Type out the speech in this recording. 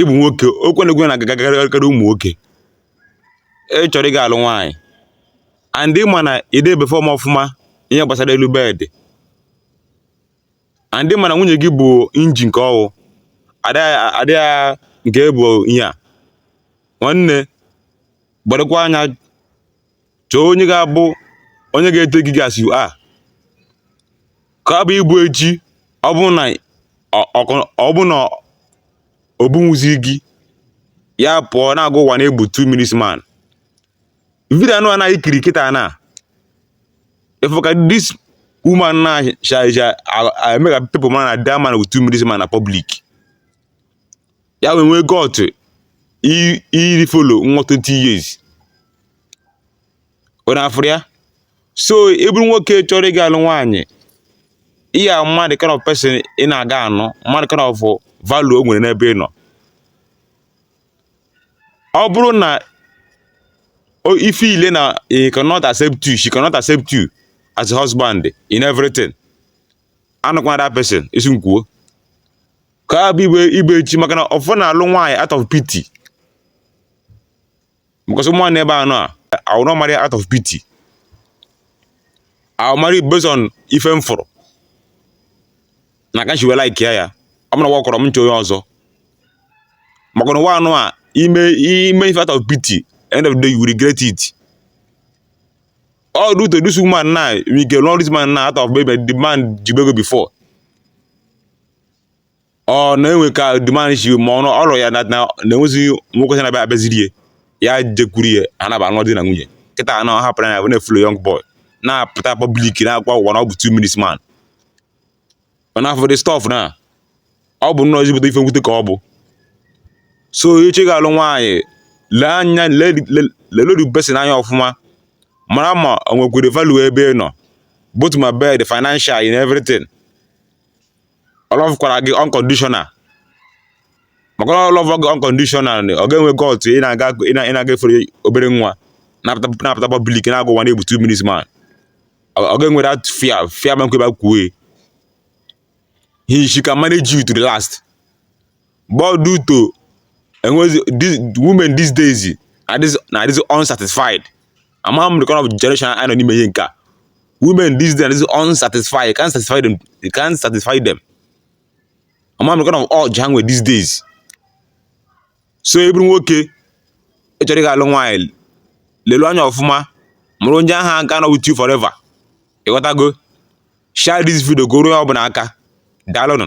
ịbụ nwoke okwu a na okwu a na-agakarị ụmụ nwoke ị chọrọ ịga alụ nwaanyị and ị ma na ị dị e-perform ọfụma ihe gbasara elu bed and ị ma na nwunye gị bụ engine nke ọwụ adịghị nke bụ ihe a nwanne gbadokwa anya chọọ onye ga-abụ onye ga-etake gị as you are ka ọ bụ ịbụ echi ọ bụ na ọ- ọ- ọ bụ na o bunwuzi gị ya pụọ na-agwa ụwa na ị bụ 2 minutes man video anụwa a na-ekiri kịta na ị fụ ka this woman na sha sha eme ka people ma na that man bụ 2 minutes man na public ya wee nwee gut iji follow nwa 20 years ọ na-afụrụ ya so ị bụrụ nwoke chọrọ ịga alụ nwaanyị ihe a ma the kind of person ị na-aga anụ ma the kind of value o nwere n'ebe ị nọ ọ bụrụ na o- ife ile na he cannot accept you she cannot accept you as a husband in everything anụkwana that person ị sị m kwuo ka ya bụ igbe igbe echi maka na ụfọdụ na-alụ nwaanyị out of pity because ụmụ nwaanyị ebe a nọ a I will not marry out of pity I will marry based on ife m fụrụ na aka nchiwe like ya ya ọ bụrụ na ọ workrọ m chọọ onye ọzọ maka na ụwa anụ a i me i me ife out of pity end of the day you will regret it all due to this woman now we get all this man now out of maybe the man jibu ego before ọ na enwe ka the man si ma ọ ọrụ ya na na enwezighị nwoke si na-abịa abịaziri ya ya jekwuru ya ha na anụ di na nwunye kịta anọ ọ hapụrụ ya pụọ na-efollow young boy na-apụta public na-agwa ụwa na ọ bụ two minutes man ọ na-afụ the stuff na ọ bụ nnọọ ezigbote ife mwute ka ọ bụ so ị chọọ ịga alụ nwaanyị lee anya lelu the person anya ọfụma mara ma o nwekwere value ebe ị nọ both ma bed financial in everything ọ lọvụkwara gị unconditional maka ọ lọvụ gị unconditional ọ ga-enwe gut ị na-aga ị na- ị na-aga efollow obere nwa na-apụta na-apụta public na-agwa ụwa na ị bụ two minutes man ọ ọ ga-enwe that fear fear ma nkweba kwue he she can manage you to the last But due to enwezi this women these days adịzi na adịzi unsatisfied amaghị m the kind of generation anyị nọ n'ime ihe nke a women these days adịzi unsatisfied you can't satisfy them you can't satisfy them amaghị m the kind of urge ha nwere these days so ị bụrụ nwoke ị chọrọ ịga alụ nwaanyị lelu anya ọfụma marụ onye ahụ a ga-anọ with you forever ịghọtago share this video ka o ruo onye ọbụla aka daalụnụ